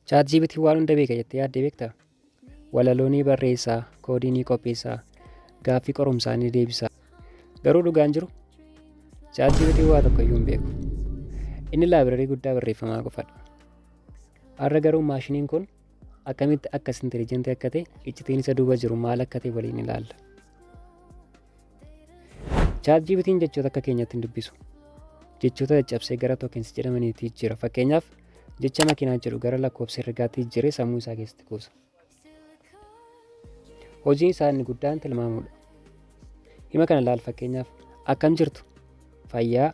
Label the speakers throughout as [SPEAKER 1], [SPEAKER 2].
[SPEAKER 1] Chaat GPT waan hunda beeka jettee yaaddee beektaa? Walaloo ni barreessaa, koodii ni qopheessaa, gaaffii qorumsaa ni deebisaa. Garuu dhugaan jiru Chaat GPT waa tokko iyyuu hin beeku. Inni laabirarii guddaa barreeffamaa qofadha. Har'a garuu maashiniin kun akkamitti akkas intelijentii akka ta'e iccitiin isa duuba jiru maal akka ta'e waliin ilaalla. Chaat GPT'n jechoota akka keenyaatti hin dubbisu. Jechoota caccabsee gara tokens jedhamaniitti jijjiira. Fakkeenyaaf jecha makiinaa jedhu gara lakkoofsa herregaatti jijjiiree sammuu isaa keessatti kuusa. Hojiin isaa inni guddaan tilmaamuudha. Hima kana laal fakkeenyaaf akkam jirtu fayyaa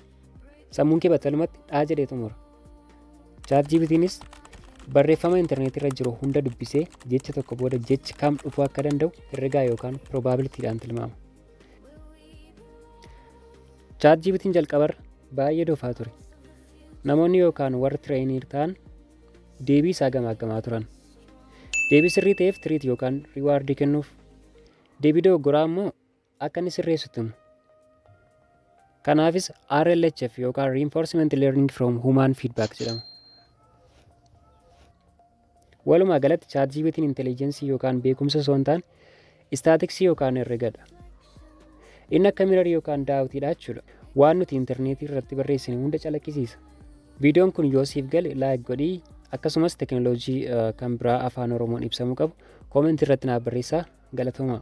[SPEAKER 1] sammuun kee battalumatti dhaa jedhee xumura. Chaat GPTinis barreeffama intarneetii irra jiru hunda dubbisee jecha tokko booda jechi kam dhufuu akka danda'u herregaa yookaan probabilitiidhaan tilmaama. Chaat GPTiin jalqabarra baay'ee dofaa ture. Namoonni yookaan warri tireeniir ta'an deebii isaa gamaaggamaa turan. Deebii sirrii ta'eef tiriit yookaan riwaardii kennuuf. Deebii dogoggoraa immoo akka inni sirreessu tumu. Kanaafis RLHF yookaan Reinforcement Learning from Human Feedback jedhama. Walumaa galatti ChatGPT'n intelligeensii yookaan beekumsa osoo hin taane istaatiksii yookaan herregadha. Inni akka mirarii yookaan daawwitiidha jechuudha. Waan nuti intarneetii irratti barreessine hunda calaqqisiisa. Viidiyoon kun yoo siif gale laayik godhii akkasumas tekinooloojii kan biraa afaan Oromoon ibsamu qabu koomentii irratti naaf barreessaa galatoomaa.